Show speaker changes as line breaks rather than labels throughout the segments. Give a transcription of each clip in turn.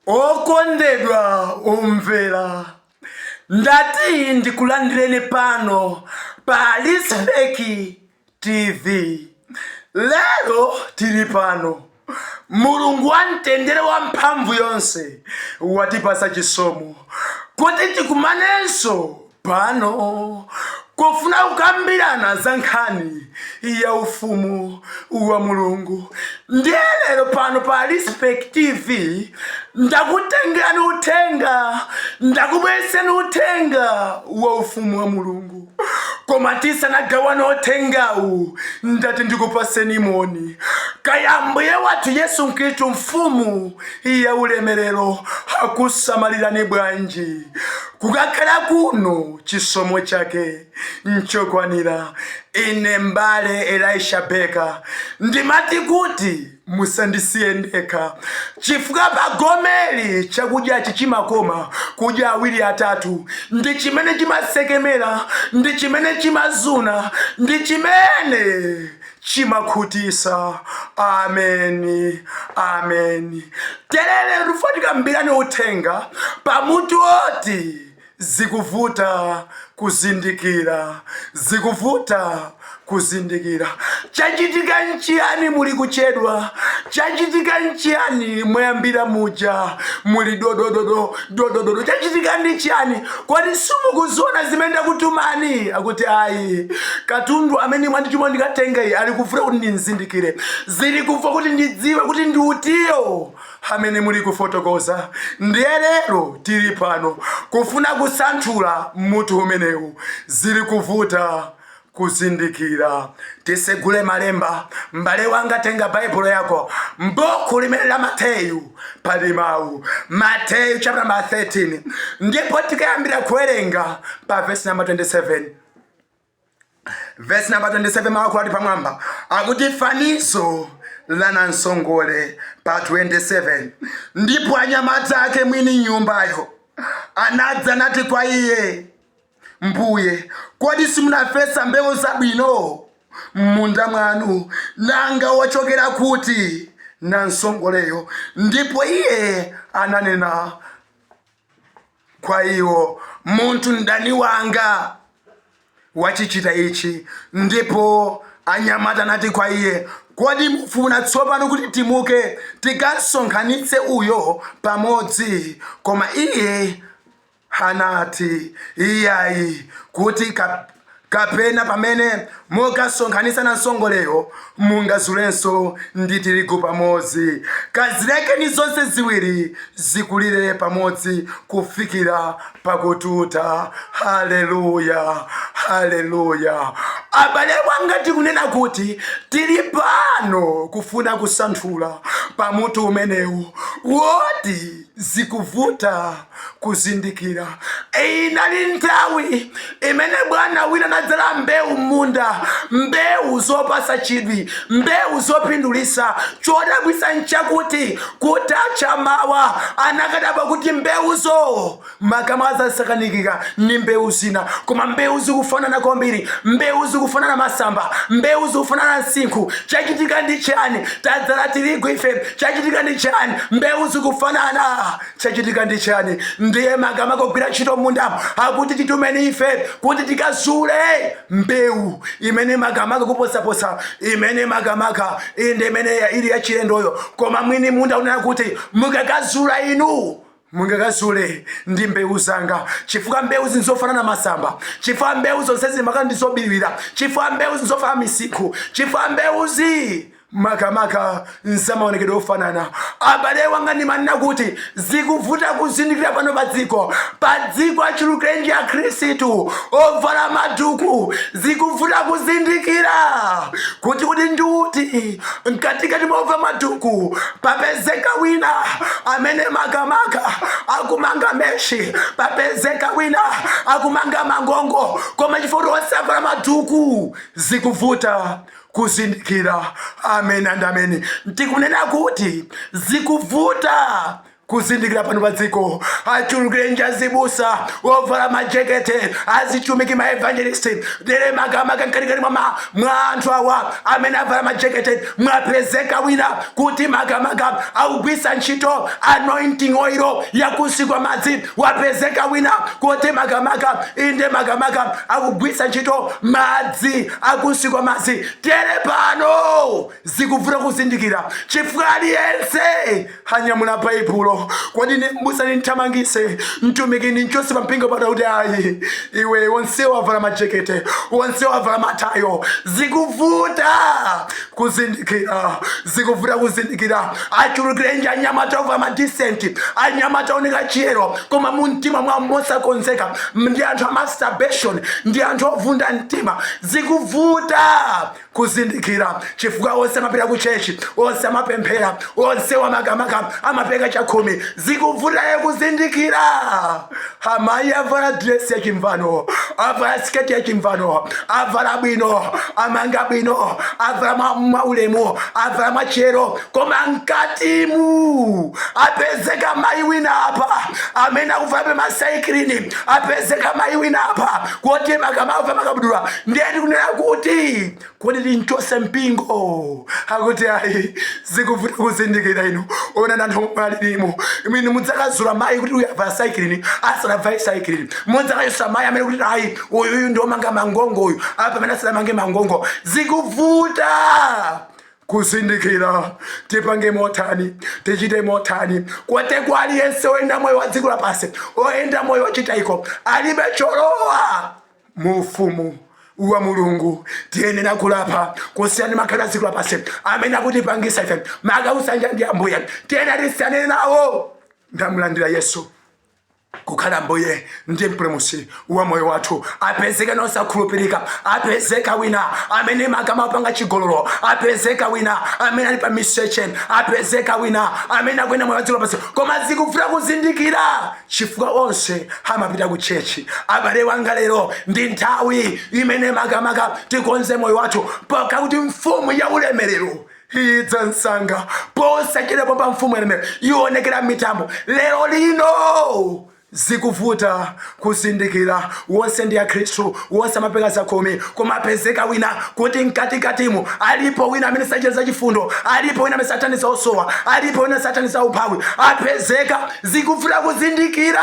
okondedwa omvera ndati ndikulandireni pano pa Respect TV. Lero tili pano, Mulungu wa mtendere wamphamvu yonse watipatsa chisomo kuti tikumanenso pano kufuna kukambirana za nkhani ya ufumu wa Mulungu. Ndiye lero pano pa Respect TV ndakutengerani uthenga, ndakubweretsani uthenga wa ufumu wa Mulungu. koma tisanagawana uthengawu ndati ndikupaseni moni kaya mbuye wathu yesu khristu mfumu ya ulemerero akusamalirani bwanji kukakhala kuno chisomo chake nchokwanira ine mbale elisha beka ndimati kuti Musandisiye ndekha, chifukwa pagomeli chakudyachi chimakoma kudya awiri atatu, ndi chimene chimatsekemera, ndi chimene chimazuna, ndi chimene chimakhutisa. Ameni. Ameni. Tere lero tufuna tikambirane uthenga pa mutu woti Zikuvuta kuzindikira, zikuvuta kuzindikira. Chachitika nchiyani? Muli kuchedwa. Chachitika nchiyani? Mwayambira muja muli dodododo dodododo. Chachitika ndi chiyani? Kodi simukuziona zimene ndakutumani? Akuti ayi, katundu amene mwandituma ndikatenga iye ali kuvuta kuti ndimzindikire, zili kuvuta kuti ndidziwe kuti ndi utiyo amene muli kufotokoza ndiye lero tili pano kufuna kusanthula mutu umenewu zili kuvuta kuzindikira tisegule malemba mbale wanga tenga baibulo yako mbuku limene la mateyu pali mawu mateyu chapter 13 ndipo tikayambira kuwerenga pa vesi namba 27 vesi namba 27 mawu ali pamwamba akuti fanizo la namsongole pa 27 ndipo anyamata ake mwini nyumbayo anadza nati kwa iye mbuye kodi simunafesa mbewu zabwino m'munda mwanu nanga wachokera kuti namsongoleyo ndipo iye ananena kwa iwo, Munthu mdani wanga wachichita ichi. Ndipo anyamata anati kwa iye, Kodi mufuna tsopano kuti timuke tikasonkhanitse uyo pamodzi? Koma iye anati, Iyayi, kuti Kapena pamene mukasonkhanitsa nansongoleyo, mungazulenso ndi tirigu pamodzi. Kazilekeni zonse ziwiri zikulire pamodzi kufikira pakututa. Haleluya! Haleluya! Abale wanga, tikunena kuti tili pano kufuna kusanthula pa mutu umenewu woti zikuvuta kuzindikira. Inali nthawi imene bwana wina anadzala mbewu m'munda, mbewu zopasa chidwi, mbewu zopindulisa. Chodabwisa nchakuti kutacha mawa anakadabwa kuti mbewuzo makamaka zasakanikika ni mbewu zina, koma mbewu zikufanana kwambiri, mbewu zikufanana masamba, mbewu zikufanana msinkhu. Chachitika ndi chani? Tadzala tirigu ife, chachitika ndi chani mbewu zikufanana chachitika ndi chani ndiye makamaka ogwira ntchito mundamo akuti titumeni ife kuti tikazule mbewu imene makamaka kuposaposa imene makamaka inde imene ili yachilendoyo koma mwini munda akunena kuti mukakazula inu mungakazule ndi mbewu zanga chifukwa mbewuzi nzofanana masamba chifukwa mbewu zonse makamaka ndi zobiriwira chifukwa mbewuzi nzofanana misinkhu chifukwa mbewuzi makamaka nzamaonekedwe ofanana abale wanga ndimanena kuti zikuvuta kuzindikira pano pa dziko pa dziko achulukirenji akhristu ovala maduku zikuvuta kuzindikira kuti uti ndi uti mkatikati mwa ovala maduku papezeka wina amene makamaka akumanga meshi papezeka wina akumanga mangongo koma chifukwa onse avala maduku zikuvuta kuzindikira amen and amen ndikunena kuti zikuvuta kuzindikira pano pa dziko achulukirenji azibusa ovala majekete azitumiki maevangelist dere makamaka mkatikati mwa anthu awa amene avala majekete mwapezeka wina kuti makamaka akugwiritsa ntchito anointing oil ya kunsi kwa madzi wapezeka wina kuti makamaka inde makamaka akugwiritsa ntchito madzi a kunsi kwa madzi dere pano zikuvuta kuzindikira chifukwa aliyense anyamula baibulo kodi ni- mbusa nimthamangise mtumiki nimchose pa mpingo pata kuti ayi iwe onsewa avala majekete onsewa avala matayo zikuvuta kuzindikira zikuvuta kuzindikira achulukirenji anyamata ovala madisenti anyamata ooneka chiyero koma mu mtima mwa mosakonzeka ndi anthu a masturbation ndi anthu ovunda mtima zikuvuta kuzindikira chifukwa onse amapita ku chechi onse amapemphera onsewa makamaka amapereka chakhumi zikuvuta kuzindikira amayi avala dresi ya chimvano avala siketi ya chimvano avala bwino amanga bwino avala mwaulemu avala mwachiyero koma mkatimu apezeka mayi wina apa amene akuvalabe masaikilini apezeka mayi wina apa kuti maka amavala makabudula ndiye tikunena kuti kodi timchose mpingo akuti ayi zikuvuta kuzindikira inu ona nanthu mupalirimo imene mudzakazula mayi kuti uyu avala saikilini asanavale saikilini mudzakachosa mayi amene kuti ayi uyuyu ndiomanga mangongo uyu apa amene asanamange mangongo zikuvuta kuzindikira tipange motani tichite motani kotero kwa aliyense oyenda moyo wa dziko lapansi oyenda moyo wachitayiko alibe cholowa mu ufumu wa mulungu tiyenera kulapa kusiyana makhalidwe a dziko lapansi amene akutipangisa ife maka kusayanjana ndi ambuye tiyenera tisiyane nawo ndamulandira yesu kukhala mbuye ndi mpulumutsi wa moyo wathu apezeka ena osakhulupirika apezeka wina amene maka amapanga chigololo apezeka wina amene ali pa miseche apezeka wina amene akuyenda moyo wadziko lapansi koma zikuvuta kuzindikira chifukwa onse amapita ku chechi abale wanga lero ndi nthawi imene makamaka tikonze moyo wathu pakuti mfumu ya ulemerero idza msanga posachedwa pompa mfumu ya ulemerero ionekera mmitambo lero lino zikuvuta kuzindikira wonse ndi akhristu wonse amapereka zakhumi koma apezeka wina kuti mkatikatimu alipo wina amene sachita zachifundo alipo wina amene sathandiza osowa alipo wina sathandiza umphawi apezeka zikuvuta kuzindikira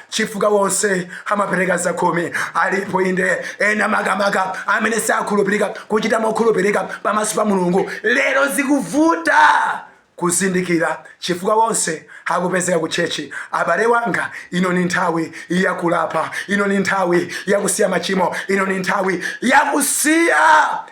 chifukwa wonse amapereka zakhumi alipo inde ena makamaka amene sakhulupirika kuchita mokhulupirika pamaso pa mulungu lero zikuvuta kuzindikira chifukwa wonse akupezeka ku chechi abale wanga ino ni nthawi yakulapa ino ni nthawi yakusiya machimo ino ni nthawi yakusiya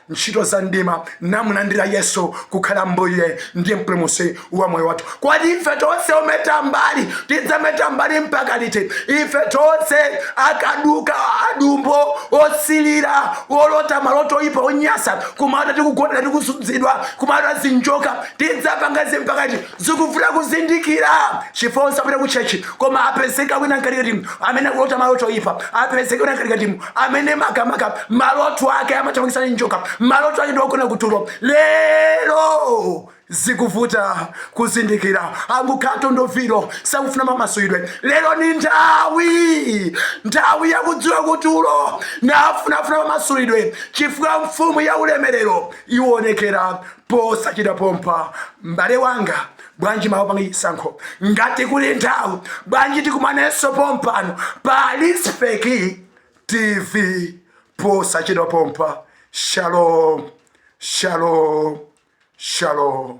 ntchito za mdima namulandira Yesu kukhala Mbuye ndi Mpulumutsi wa moyo wathu. Kodi ife tonse ometa mbali tidzameta mbali mpaka liti? Ife tonse akaduka, adumbo, osilira, olota maloto oyipa, onyasa, kumalota tikugona, tikusudzidwa, kumalota zinjoka, tidzapanga izi mpaka liti? Zikuvuta kuzindikira chifukwa osapita ku chechi koma apezeka wina mkatikati amene akulota maloto oyipa, apezeka wina mkatikati amene makamaka maloto ake amathamangitsidwa ndi njoka maloto ake ndi ogona kutulo lero zikuvuta kuzindikira angokhala ndwii osakufuna mamasulidwe lero ni nthawi nthawi yakudziwa kutulo nafunafuna mamasulidwe chifukwa mfumu ya ulemerero iwonekera posachedwa pompa m'bale wanga bwanji mawa panga chisankho ngati kuli nthawi bwanji tikumanenso pompano pa lispeki tv posachedwa pompa shalom shalom shalom